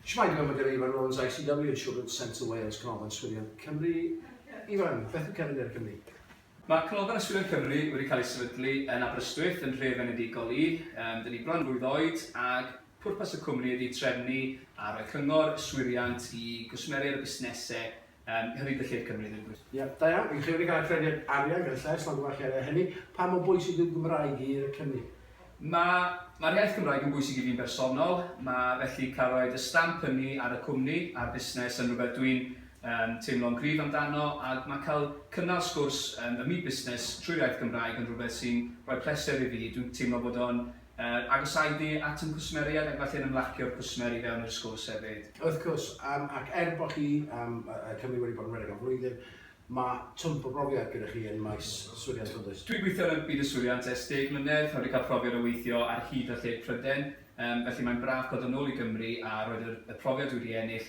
Shwmae, dwi'n meddwl Ifan Rowlands, ICW, Children's Centre Wales, Canolfan Swirion Cymru. Ifan, beth yn cefn i'r Cymru? Mae Canolfan Swirion Cymru wedi cael ei sefydlu yn Aberystwyth yn nhref enedigol i. Um, Dyn ni bron flwydd oed ac pwrpas y cwmni ydy trefnu a rhoi cyngor swiriant i gwsmeriaid a busnesau Yn hyfydd lle Cymru ddim yn bwysig. Ie, da iawn. Fi'n credu gallai trefniad arian gyda lles London fach herio hynny. Pam mor bwysig yw Gymraeg i Cymru? Mae, mae'r iaith Gymraeg yn bwysig i fi'n bersonol, mae felly cael rhoid y stamp hynny ar y cwmni a'r busnes yn rhywbeth dwi'n yym teimlo'n gryf amdano ac mae cael cynnal sgwrs yn fy myd busnes trwy'r iaith Gymraeg yn rhywbeth sy'n rhoi pleser i fi, dwi'n teimlo bod o'n Yr agosáu di at ein cwsmeriaid ac felly'n ymlacio'r cwsmer i fewn i'r sgwrs hefyd. Wrth gwrs, yym, ac er bod chi, yym, y y cynnig wedi bod yn redeg am flwyddyn, ma' twmp o brofiad gyda chi yn maes swriant yn does? Dwi'n gweithio yn y byd y swriant ers deg mlynedd a wedi cael profiad o weithio ar hyd a lled Pryden, yym, felly mae'n braf cod yn ôl i Gymru a roedd yr y profiad dwi wedi ennill